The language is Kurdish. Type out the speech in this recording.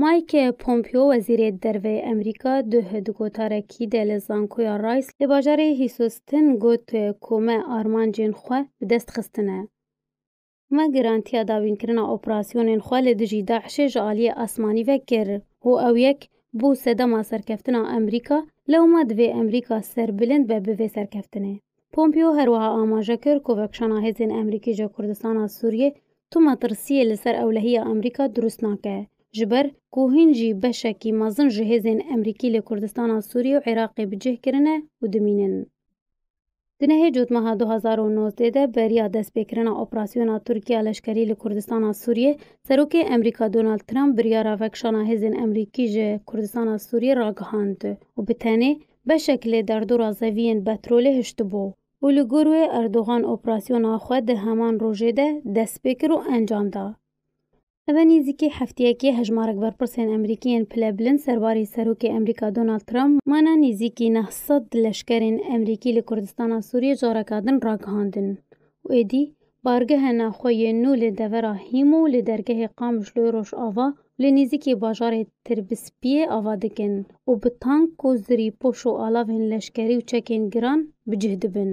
Mike Pompeo wezîrê derveyê Amerîka duh di gotarekî de li zankoya Rice li bajarê Hîsustin got ku me armancên xwe bi dest xistine. Me girantiya dawînkirina operasyonên xwe li dijî DAIŞ'ê ji aliyê asmanî ve kir û ew yek bû sedema serkeftina Amerîka, lewma divê Amerîka serbilind be bi vê serkeftinê. Pompeo her wiha amaje kir ku vekişana hêzên Amerîkî ji Kurdistana Sûriyê tu metirsiyê li ser ewlehiya Amerîka dirust nake, ji ber ku hîn jî beşekî mezin ji hêzên Amerîkî li Kurdistana Sûriyê û Iraqê bi cih kirine û dimînin. Di nehê cotmeha du hezar û nozdeh de beriya destpêkirina operasyona Tirkiya leşkerî li Kurdistana Sûriyê, Serokê Amerîka Donald Trump biryara vekişana hêzên Amerîkî ji Kurdistana Sûriyê ragihand û bi tenê Beşek lê derdora zeviyên petrolê hiştibû û li gor wê Erdogan operasyona xwe di heman rojê de dest pê kir û encam da. Ev nêzîkî hefteyekê hejmarek berpirsên Emerîkî yên pilebilind serbarê Serokê Emerîka Donald Trump mana nêzîkî neh sed leşkerên Emerîkî li Kurdistana Sûriyê careka din ragihandin û êdî Bargeha navxwe yên nû li devera Hîm û li dergehê Qamişloyê Rojava û li nêzîkî bajarê Tirbispiyê ava dikin û bi tank û zirî poş û alavên leşkerî û çekên giran bi cih dibin.